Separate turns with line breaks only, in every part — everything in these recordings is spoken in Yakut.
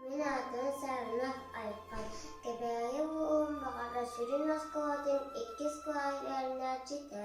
Мин аатым Сарынах Айхан. Кэбээйи уолун баҕата сүрүн оскуолатын иккис сквайрыаннааччыта.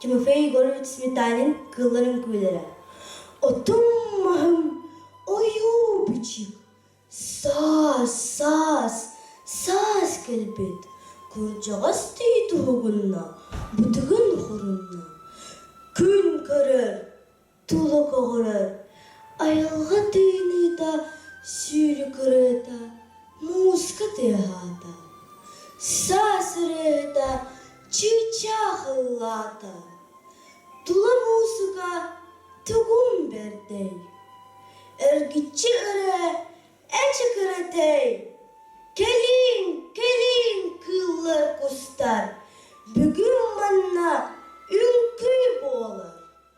Тимофей Егорович Сметанин кыыллар үҥкүүлэрэ Отум маһым ойуубичик саас саас саас кэлбит кырдьаҕас тии туһугунна бытыгын хорунна күн көрөр тула көҕүрэр айылҕа тыыныыта сүүрүк ырыата мууска тыаһаата саас ырыата чыычаах ыллаата тула муусука тугум бэрдэй эргиччи ырыа эчик ырытай кэлиин кэлиин кыыллар кустар бүгүн манна үҥкүү буолар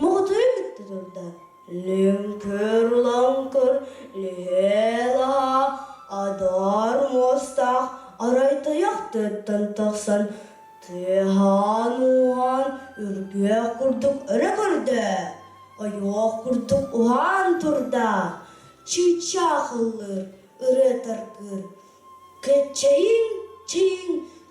Мутуйан бүттэ турда: «Лүҥкүр, улаҥкыр, лүһүө-лаһа, адаар муостаах, арай тайах төттөн тахсан, тыаһаан-ууһаан, үргүөх курдук өрө көрдө, ойоох курдук уһаан турдаах, чыычаахыллыыр, ырыа тардыыр, кэччэйиҥ-чэйиҥ